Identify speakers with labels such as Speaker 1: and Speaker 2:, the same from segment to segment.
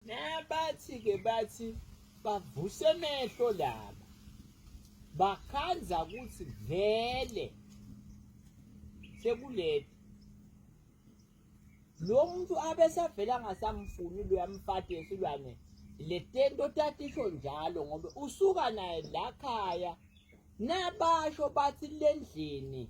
Speaker 1: Nabathi ke bathi bavuse emehlo laba. Bakhanza ukuthi vele sekuleti lo muntu abesavela ngasamfuni luyamfati esilwane le tento tatisho njalo ngoba usuka naye la khaya nabasho bathi lendlini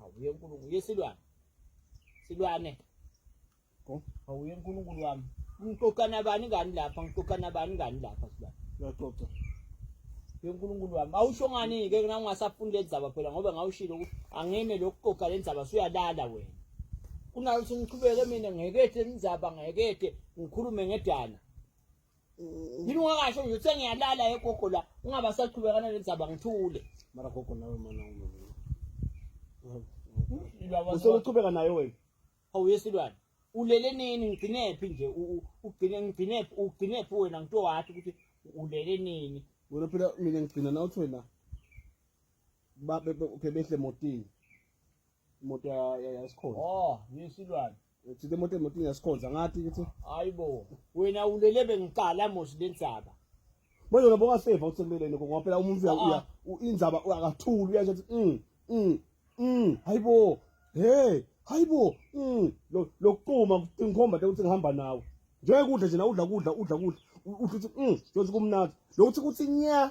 Speaker 1: Awuye uNkulunkulu, uye silwane. Silwane. Go. Awuye uNkulunkulu wami. Ngixoxa nabani ngani lapha? Ngixoxa nabani ngani lapha silwane? Uyaxoxa.
Speaker 2: Uye
Speaker 1: uNkulunkulu wami. Awusho ngani ke na ungasafuni le ndaba phela ngoba ngawushilo ukuthi angime lokuxoxa le ndaba suyalala wena. Kunalo ukuthi ngiqhubeke mina ngekethe indaba ngekethe ngikhulume ngedana. yini ungakasho nje uthe ngiyalala egogo la ungabasaqhubekana lezaba ngithule mara gogo nawe
Speaker 2: mana useluchubeka nayo wena awuyesilwane
Speaker 1: ulele nini ngigcinephi nje ugcine ngigcinephi ugcinephi wena ngito wathi ukuthi ulele nini wena phela mina
Speaker 2: ngigcina nawuthi wena babe behle motini imoto yasikhonza oh yesilwane
Speaker 1: thina imoto emotini
Speaker 2: yasikhonza ngathi ukuthi hayi bo
Speaker 1: wena ulele bengiqala mosi lensaba manje wena
Speaker 2: bokaseva usemeleni ngoba phela umuntu uya ah, ah. inzaba akathuli uyasho ukuthi mm mm mm hayi bo hey hayi bo mm lokuquma ngikhomba ukuthi ngihamba nawe njengokudla nje na udla kudla udla kudla uthi uthi mm njengokuthi kumnandi lokuthi kuthi nya